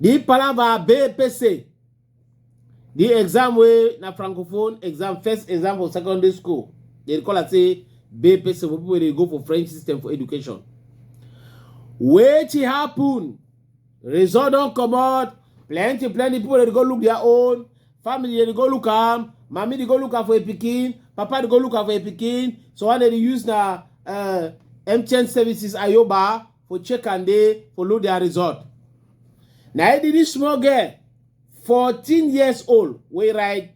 The palava BPC. The exam way na francophone exam, first exam for secondary school. They call it say BPC for people they go for French system for education. Wait it happen. result don comot plenty plenty people dey go look their own family dey go look am mami dey go look am for a pikin papa dey go look am for a pikin so one dey dey use na uh, mtn services ayoba for check and dey for look their result na e dey this small girl fourteen years old wey write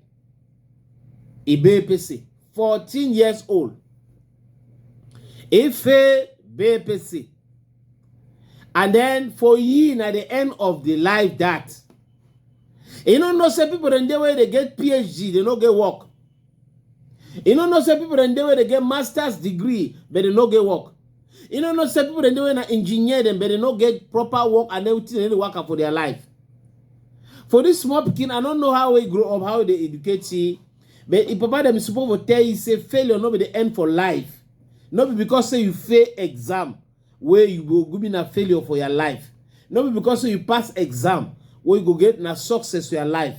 ibe pese fourteen years old ife bepese and then for you na the end of the life that you no know say people dem dey wey dey get phd dey no get work you no know say people dem dey wey dey get masters degree but dey no get work you no know say people dem dey wey na engineer dem but dey no get proper work and everything dem dey waka for their life for this small pikin i no know how he grow up how he dey educate he but him papa dem suppose for tell you say failure no be the end for life no be because say you fail exam wey you go go be na failure for your life no be because say you pass exam wey you go get na success for your life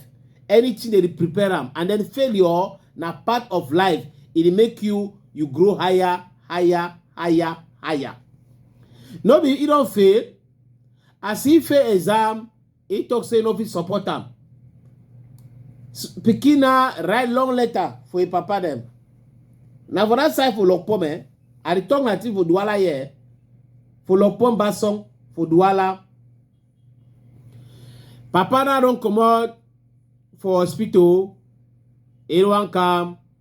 anything dey prepare am and then failure na part of life e dey make you you grow higher higher higher higher no be e don fail as e fail exam He talk say he no fit support am. S- Pikin na write long letter for him papa dem. Na for that side for Lokpom eh. I dey talk na thing for Duala here. eh. For Lokpom Basong for Duala. Papa na don comot for hospital. He wan come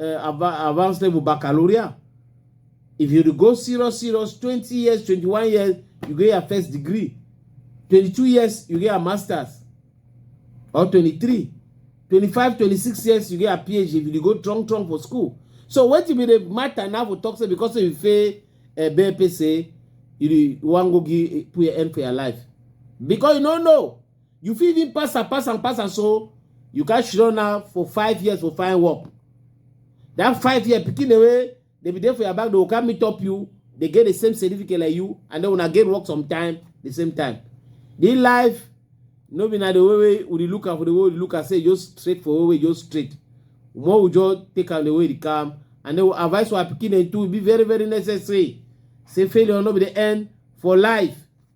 uh, advanced level baccalaureate if you go serious serious twenty years twenty-one years you get your first degree twenty-two years you get your masters or twenty-three twenty-five twenty-six years you get your phd if you go strong strong for school so wetin be the matter now for talk say because say you fail uh, eh, bpc you wan go give put your end for your life because you no know You fit even pass am, pass am, pass am, so you can shirona now for five years for fine work. That five year picking away, they be there for your back, they will come meet up you, they get the same certificate like you, and then when I get work sometime, the same time. The life, no be na the way way we look at for the way we look at say just straight for way way just straight. More we just take out the way they come, and they will advise our picking and to be very very necessary. Say failure no be the end for life.